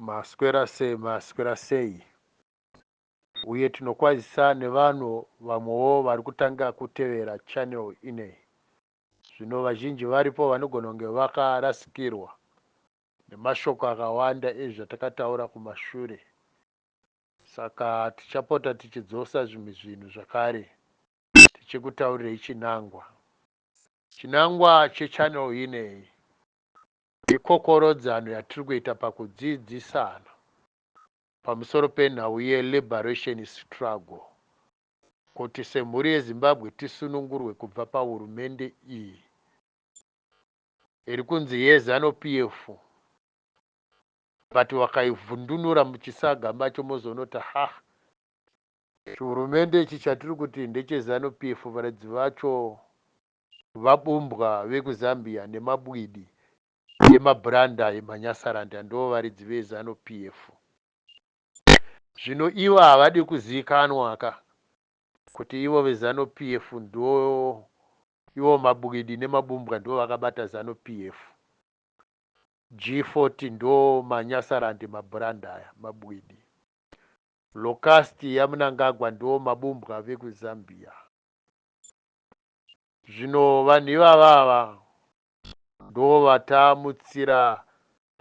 Maswera sei maswera sei uye tinokwazisa nevanhu vamwewo vari kutanga kutevera channel ineyi zvino vazhinji varipo vanogona kunge vakarasikirwa nemashoko akawanda ezvatakataura kumashure saka tichapota tichidzosa zvimwe zvinhu zvakare tichikutaurirei chinangwa chinangwa chechannel ineyi Ikokorodzano yatiri kuita pakudzidzisana pamusoro penhau yeLiberation Struggle kuti semhuri yeZimbabwe tisunungurwe kubva pahurumende iyi iri kunzi yeZanu PF but vakaivhundunura muchisaga macho mozonota hah chihurumende ichi chatiri kuti ndecheZanu PF varidzi vacho vabumbwa vekuZambia nemabwidi emabhuranda emanyasaranda ndovaridzi veZanu PF. Zvino ivo havadi kuziikanwa ka kuti ivo veZanu PF ndo ivo mabwidi nemabumbwa ndovakabata Zanu PF. G40 ndo manyasarand emabhuranda aya, mabwidi. Locust yaMnangagwa ndo mabumbwa vekuZambia. Zvino vanhu ivava ava ndovatamutsira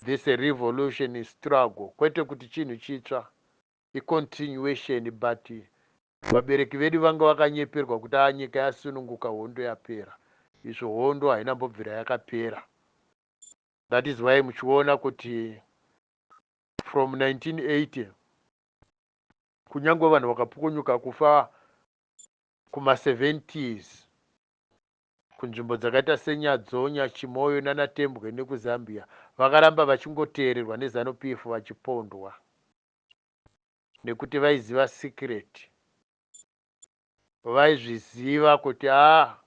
this a revolution in struggle kwete kuti chinhu chitsva i continuation but vabereki vedu vanga vakanyeperwa kuti aa nyika yasununguka hondo yapera izvo hondo haina mbobvira yakapera that is why muchiona kuti from 1980 kunyangwe vanhu vakapukonyuka kufa kuma 70s kunzvimbo dzakaita seNyadzonya, Chimoio nana Tembwe nekuZambia vakaramba vachingoteererwa neZanu PF vachipondwa nekuti vaiziva secret vaizviziva kuti a ah,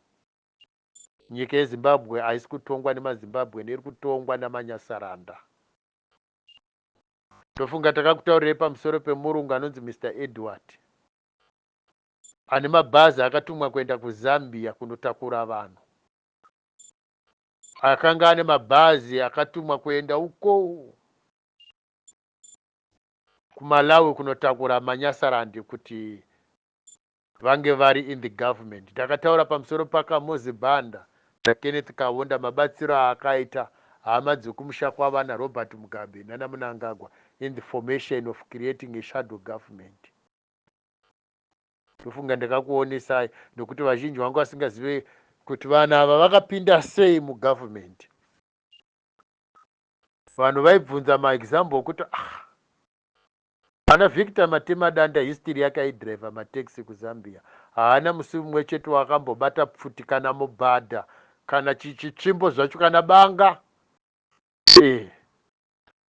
nyika yezimbabwe haisi kutongwa nemazimbabwen iri kutongwa namanyasaranda ndofunga takakutaurirai pamusoro pemurungu anonzi mr edward ane mabhazi akatumwa kuenda kuzambia kunotakura vanhu akanga ane mabhazi akatumwa kuenda uko kumalawi kunotakura manyasarandi kuti vange vari in the government takataura pamusoro pakamozi banda nakenneth kavonda mabatsiro aakaita hama dzekumusha kwavana robert mugabe nanamunangagwa in the formation of creating a shadow government Ndofunga ndakakuonesai nokuti vazhinji vanga vasingazive kuti vanhu ava vakapinda sei mugovernment. Vanhu vaibvunza maexample okuti ah, ana Victor Matemadanda history yake aidriver mataxi kuZambia. Haana musi mumwe chete waakambobata pfuti kana mubhadha kana chitsvimbo zvacho kana banga. Eh,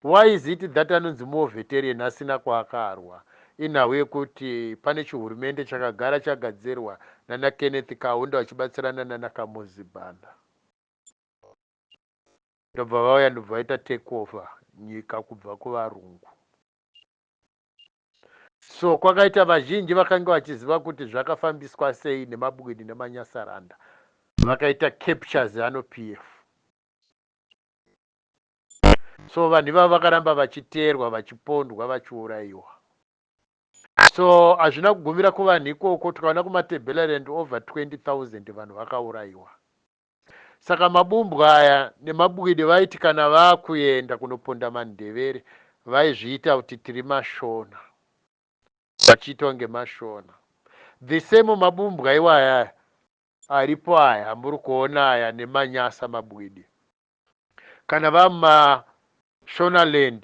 Why is it that anonzi more veterian asina kwaakarwa inhau yekuti pane chihurumende chakagara chagadzirwa nana Kenneth Kaunda vachibatsirana nana Kamuzi Banda ndobva vauya ndobva vaita take over nyika kubva kuvarungu. So kwakaita vazhinji vakange vachiziva kuti zvakafambiswa sei nemabwidi nemanyasaranda vakaita capture zanu PF. so vanhu ivavo vakaramba vachiteerwa vachipondwa vachiurayiwa so hazvina kugumira kuvanhu ikoko tikaona kumatebelaland over 20000 vanhu vakaurayiwa saka mabumbwa aya nemabwidi vaiti kana vakuenda kunoponda mandevere vaizviita kuti tiri mashona vachiita kunge mashona the same mabumbwa iwaya aripo aya amuri kuona aya nemanyasa mabwidi Kana vama Shonaland,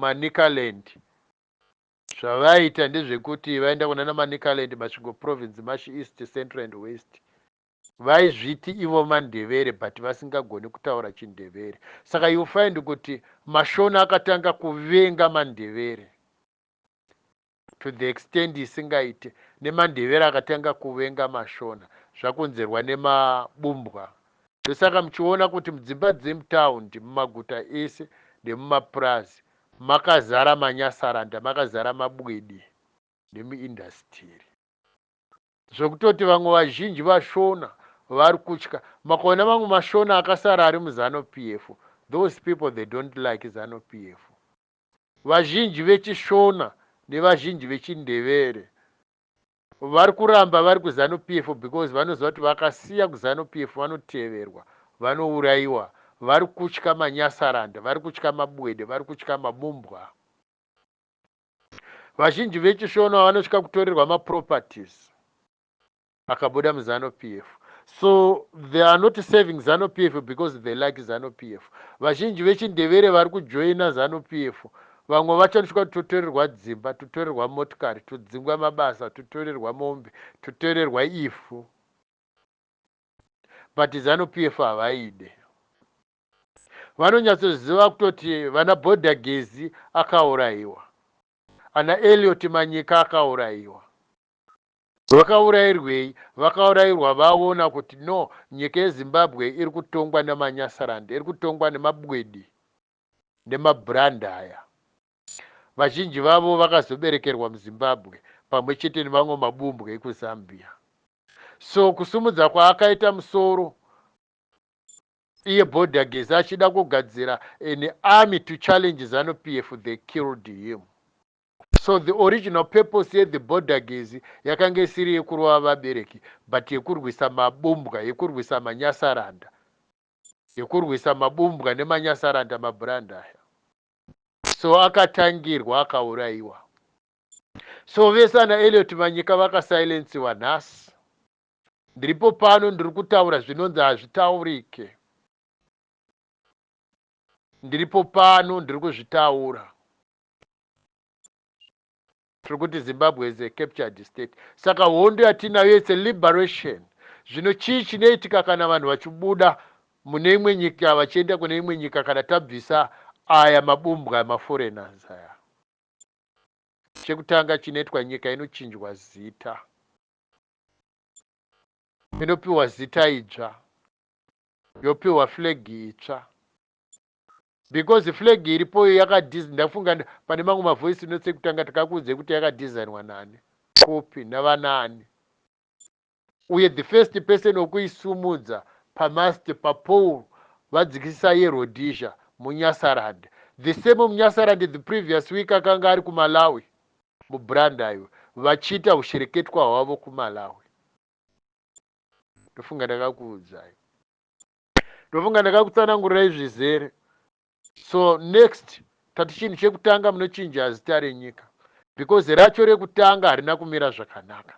Manicaland zvavaita ndezvekuti vaenda kunana Manicaland, Masvingo province, Mashi East, Central and West vaizviti ivo mandevere but vasingagoni kutaura chindevere saka you find kuti mashona akatanga kuvenga mandevere to the extend isingaite nemandevere akatanga kuvenga mashona zvakonzerwa nema bumbwa ndosaka muchiona kuti mudzimba dzemutaundi mumaguta ese nemumapurazi makazara manyasaranda makazara mabwidi nemuindasitiri zvekutoti vamwe vazhinji vashona vari kutya makaona mamwe mashona akasara ari muzanu pf those people they don't like zanu pf Vazhinji vechiShona nevazhinji vechiNdevere vari kuramba vari kuZanu PF because vanoziva kuti vakasiya kuZanu PF vanoteverwa, vanouraiwa, vari kutya manyasaranda, vari kutya mabwede, vari kutya mabumbwa. Vazhinji vechiShona vanotya kutorerwa maproperties. akabuda muzanu pf so they are not serving zanu pf because they like zanu pf vazhinji vechindevere vari kujoina zanu pf vamwe vachanosvika kuti totorerwa dzimba totorerwa motikari todzingwa mabasa totorerwa mombe totorerwa ivhu but zanu pf havaide vanonyatsoziva kutoti vana bhodha gezi akaurayiwa ana eliot manyika akaurayiwa Vakaurairwei? Vakaurairwa vaona kuti no nyika yeZimbabwe iri kutongwa namaNyasaland, iri kutongwa nemabwidi nemabrand aya. Vazhinji vavo vakazoberekerwa muZimbabwe pamwe chete nemamwe mabumbwe ekuZambia. So kusumudza kwaakaita musoro iye Bhodhagezi achida kugadzira an army to challenge Zanu PF they killed him. So the original purpose ye the border gezi yakanga isiri yekurova vabereki but yekurwisa mabumbwa yekurwisa manyasaranda yekurwisa mabumbwa nemanyasaranda mabrand aya so akatangirwa akaurayiwa so vese ana eliot manyika vakasilensiwa nhasi ndiripo pano ndiri kutaura zvinonzi hazvitaurike ndiripo pano ndiri kuzvitaura tiri kuti zimbabwe is a captured state saka hondo yatinayo its a liberation zvino chii chinoitika kana vanhu vachibuda mune imwe nyika vachienda kune imwe nyika kana tabvisa aya mabumbwa emaforeigners aya chekutanga chinoitwa nyika inochinjwa zita inopiwa zita idzva yopiwa flegi itsva Because flag iripoyo yakadis ndafunga pane mamwe ma voice notes ekutanga takakuudzai kuti yakadesignwa nani copy navanaani uye the first person wekuisumudza pamast papool vadzikisisa yeRhodesia muNyasaland the same muNyasaland the previous week akanga ari kuMalawi mubranda iwe vachiita ushereketwa hwavo kuMalawi ndofunga ndakakuudzai ndofunga ndakakutsanangurirai zvizere so next tati chinhu chekutanga munochinja zita renyika because racho rekutanga harina kumira zvakanaka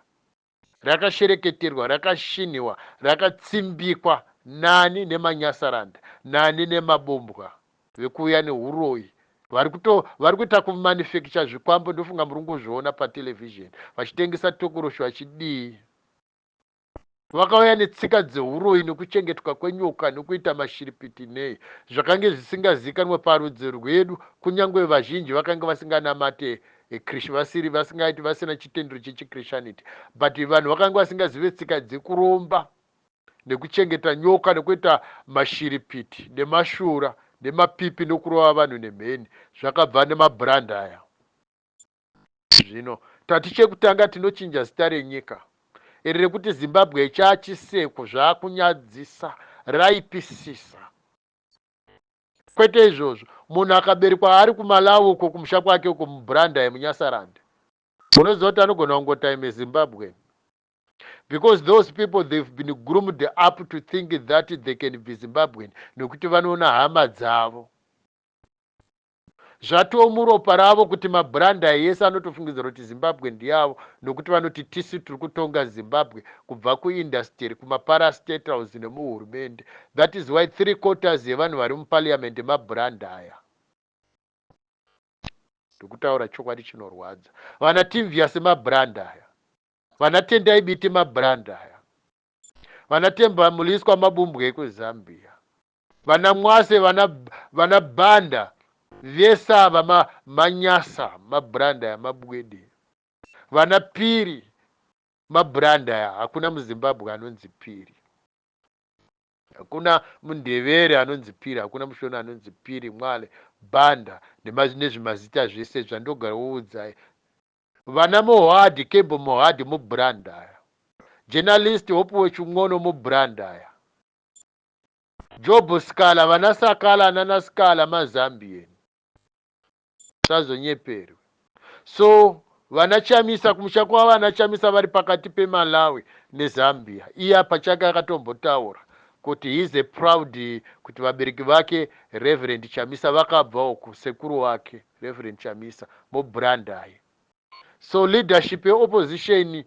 rakashereketerwa rakashinhiwa rakatsimbikwa nani nemanyasaranda nani nemabombwa vekuuya neuroyi vari kuto vari kuita kumanufacture zvikwambo ndofunga muri kungozviona patelevhizheni vachitengesa tokoroshi vachidii Vakauya netsika dzehuroyi nokuchengetwa kwenyoka nokuita mashiripiti nei, zvakange zvisingazivikanwe parudzi rwedu, kunyange vazhinji vakange vasinganamate Krish vasiri vasingaiti vasina chitendero chechiKrishaniti but vanhu vakange vasingazive tsika dzekuromba nekuchengeta nyoka nokuita mashiripiti nemashura nemapipi nokurova vanhu nemheni zvakabva nemabrand aya Zvino tati chekutanga tinochinja zita renyika iri rekuti Zimbabwe chaa chiseko zvakunyadzisa raipisisa kwete izvozvo munhu akaberekwa ari kumalawi uko kumusha kwake uko mubrandai munyasarand unoziva kuti anogona kungota ime zimbabwe because those people they've been groomed up to think that they can be zimbabwean nekuti vanoona hama dzavo Zvatoo muropa ravo kuti mabrand aya ese anotofungidzira kuti Zimbabwe ndeavo nokuti vanoti tisu tiri kutonga Zimbabwe kubva kuindasitiri, kumaparastatals nemuhurumende. That is why three quarters yevanhu vari muparliament mabrand aya. Ndikutaura chokwadi chinorwadza. Vana Timvias mabrand aya. Vana Tendai Biti mabrand aya. Vana Temba Muliswa mabumbwe ekuZambia. Vana Mwase vana vana Banda vese ava ma manyasa ma brand aya mabwede vana Piri ma brand aya hakuna muZimbabwe anonzi Piri hakuna muNdevere anonzi Piri hakuna muShona anonzi Piri Mwale Banda nema nezvimazita zvese zvandogara woudzai vana Mohadi Kembo Mohadi mu brand aya journalist Hopuwe Chimwono mu brand aya Job Scala vana Sakala nana Scala ma Zambian musazonyeperwe so vana Chamisa kumusha kwavo vana Chamisa vari pakati pe Malawi ne Zambia iye apa chake akatombotaura kuti he is a proud kuti vabereki vake Reverend Chamisa vakabva uku sekuru wake Reverend Chamisa mo Brandai so leadership ye opposition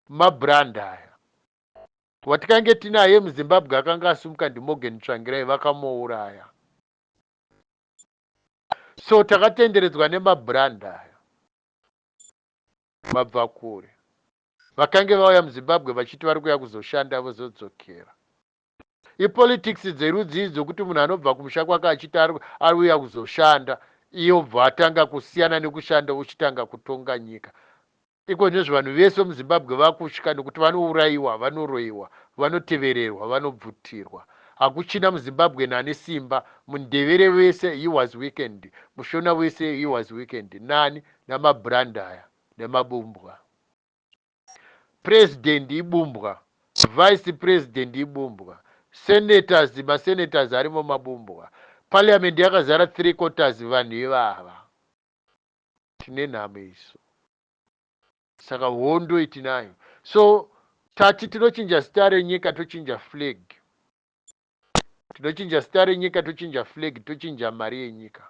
ma Brandaya Watikange tinaye muZimbabwe akanga asumuka ndiMorgan Tsvangirai vakamouraya. So takatenderedzwa nemabrand aya. Vabva kure. Vakange vauya muZimbabwe vachiti vari kuya kuzoshanda vozodzokera. Ipolitics dzerudzii dzokuti munhu anobva kumusha kwake achiti ari uya kuzoshanda iye obva atanga kusiyana nekushanda uchitanga kutonga nyika. Iko nezve vanhu vese vemuZimbabwe vakutya nekuti vanourayiwa, vanoroyiwa, vanotevererwa, vanobvutirwa. Hakuchina muZimbabwean ane simba, muNdevere wese he was weakened, muShona wese he was weakened, nani? namabrand aya, nemabumbwa. President ibumbwa, Vice President ibumbwa, Senators, maSenators arimo mabumbwa, Parliament yakazara three quarters vanhu ivava. tine nhamo isu saka hondo itinayo so tati tinochinja zita renyika tochinja flag tinochinja zita renyika tochinja flag tochinja mari yenyika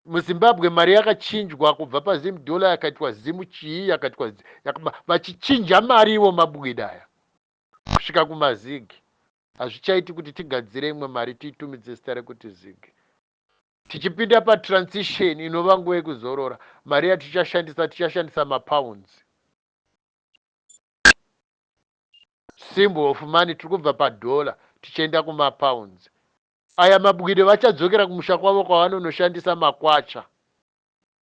muzimbabwe mari yakachinjwa kubva pazim dollar yakaitwa zimu chii yakaitwa vachichinja mari ivo mabwidaya kusvika kumazigi hazvichaiti kuti tigadzire imwe mari tiitumidze zita rekuti zigi Tichipinda patransition inova nguva yekuzorora, mari yatichashandisa tichashandisa mapounds. Symbol of money tiri kubva padollar tichienda kumapounds. Aya mabwire vachadzokera kumusha kwavo kwavanonoshandisa makwacha.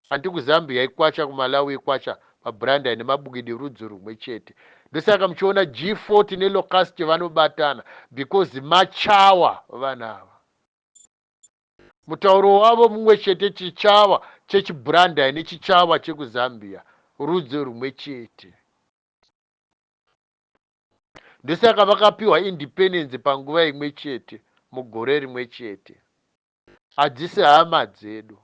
Anti kuZambia ikwacha, kuMalawi ikwacha, paBranda ine mabwidi rudzi rumwe chete. Ndosaka muchiona G40 neLocust vanobatana because machawa vana ava. Mutauro wavo mumwe chete Chichava chechiBrandai neChichava chekuZambia rudzi rumwe chete. Ndosaka vakapiwa independence panguva imwe chete mugore rimwe chete. Hadzisi hama dzedu.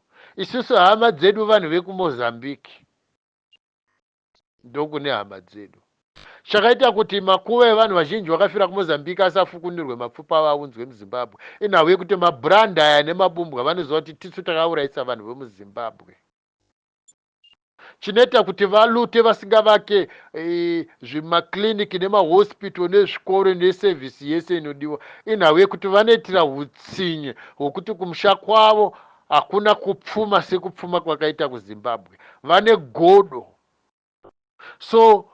Isusu hama dzedu vanhu vekuMozambique. ndokune hama dzedu. Chakaita kuti makuva evanhu vazhinji vakafira kuMozambique asafukunurwe mapfupa avo aunzwe muZimbabwe inhau yekuti mabrand aya nemabumbwa vanoziva kuti tisu takauraisa vanhu vemuZimbabwe. Chinoita kuti valute vasingavake zvimaclinic nemahospital nezvikoro neservice yese inodiwa inhau yekuti vanoitira hutsinye hwekuti kumusha kwavo Hakuna kupfuma sekupfuma kwakaita kuZimbabwe. Vane godo. So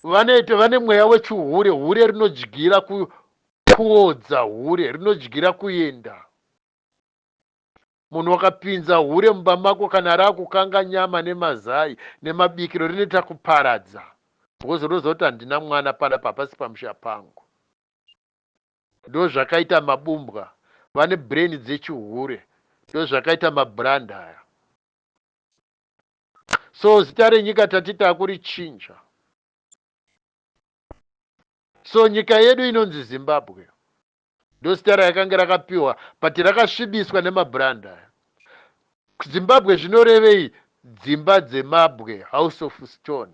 vane vane mweya wechihure, hure rinodyira ku, kuodza hure rinodyira kuenda. Munhu wakapinza hure mumba mako kana raakukanga nyama nemazai nemabikiro rinoita kuparadza. Because unoziva kuti handina mwana pana papasi pamusha pangu. ndozvakaita mabumbwa vane brain dzechihure ndozvakaita mabrand aya so zita renyika tati takurichinja so nyika yedu inonzi zimbabwe ndozita rayakanga rakapiwa but rakasvibiswa nemabrand aya zimbabwe zvinorevei dzimba dzemabwe house of stone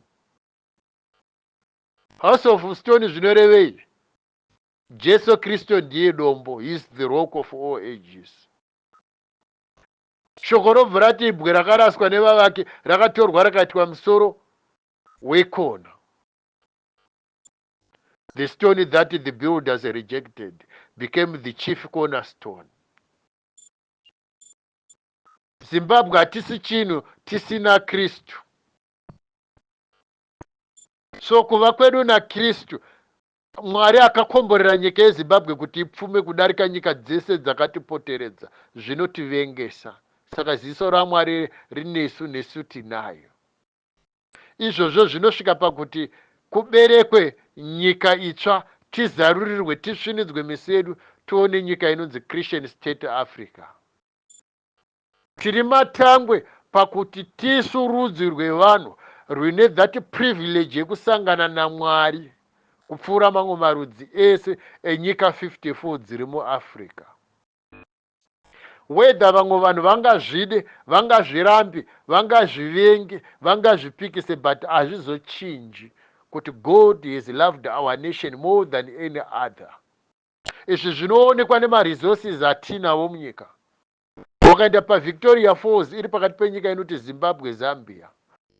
House of stone zvinorevei? Jesu Kristu ndiye dombo, he is the rock of all ages. Shoko robva rati ibwe rakaraswa nevavaki rakatorwa rakaitwa musoro wekona. The stone that the builders rejected became the chief cornerstone. Zimbabwe hatisi chinhu tisina Kristu. so kuva kwedu naKristu Mwari akakomborera nyika yeZimbabwe kuti ipfume kudarika nyika dzese dzakatipoteredza zvinotivengesa saka ziso raMwari rinesu nesu tinayo izvozvo zvinosvika pakuti kuberekwe nyika itsva tizarurirwe tisvinidzwe miso yedu tione nyika inonzi Christian State Africa Tiri matangwe pakuti tisu rudzi rwevanhu rwune that privilege yekusangana naMwari kupfuura mamwe marudzi ese enyika 54 dziri muAfrica. Whether vamwe vanhu vangazvide, vangazvirambe, vangazvivenge, vangazvipikise but hazvizochinji kuti God has loved our nation more than any other. Izvi zvinoonekwa nemaresources atinawo munyika. Ukaenda paVictoria Falls iri pakati penyika inoti Zimbabwe, Zambia,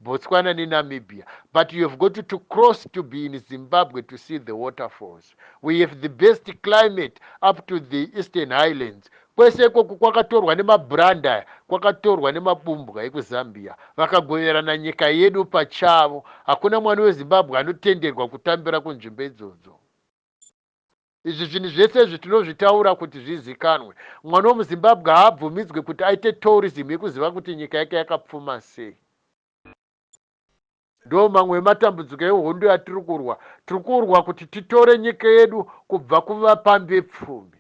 Botswana neNamibia but you have got to cross to be in Zimbabwe to see the waterfalls. We have the best climate up to the Eastern Highlands. Kwese ikoko kwakatorwa nemabrand aya, kwakatorwa nemabumbwa ekuZambia. Vakagoverana nyika yedu pachavo. Hakuna mwana weZimbabwe anotenderwa kutambira kunzvimbo idzodzo. Izvi zvinhu zvese izvi tinozvitaura kuti zvizikanwe. Mwana wemuZimbabwe haabvumidzwe kuti aite tourism yekuziva kuti nyika yake yakapfuma sei. Ndoo mamwe ematambudziko ehondo yatiri kurwa. Tiri kurwa kuti titore nyika yedu kubva kuvapambepfumi.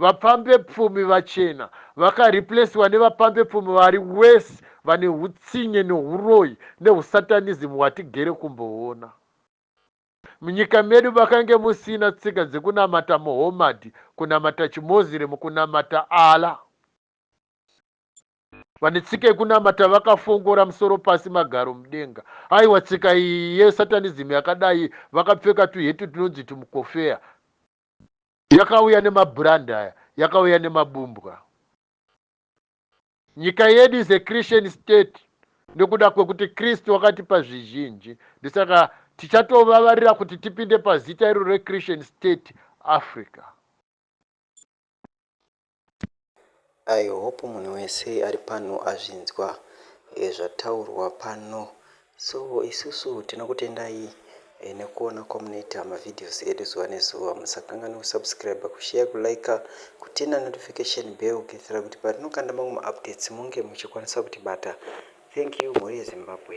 Vapambepfumi vachena vakareplesiwa nevapambepfumi vari worse vane hutsinye nehuroyi nehusatanism hwatigere kumboona. Munyika medu makange musina tsika dzekunamata Muhommad, kunamata chiMoslem, kunamata Allah. Vane tsika yekunamata vakafongora musoro pasi magaro mudenga. Aiwa tsika iyi yeSatanism yakadai vakapfeka tuhetu tunonzi tumukofeya. Yakauya nemabrand aya, yakauya nemabumbwa. nyika yedu is a christian state nekuda kwekuti kristu wakatipa zvizhinji ndisaka tichatovavarira kuti tipinde pazita iro rechristian state africa i hope munhu wese ari pano azvinzwa eh, zvataurwa pano So isusu tinokutendai nekuona kwamunoita ma videos edu zuva nezuva. Musakanganwe ku subscriber, ku share, ku liker, ku turner notification bell kuitira kuti patinokanda mamwe ma updates munge muchikwanisa kutibata. Thank you mhuri yeZimbabwe.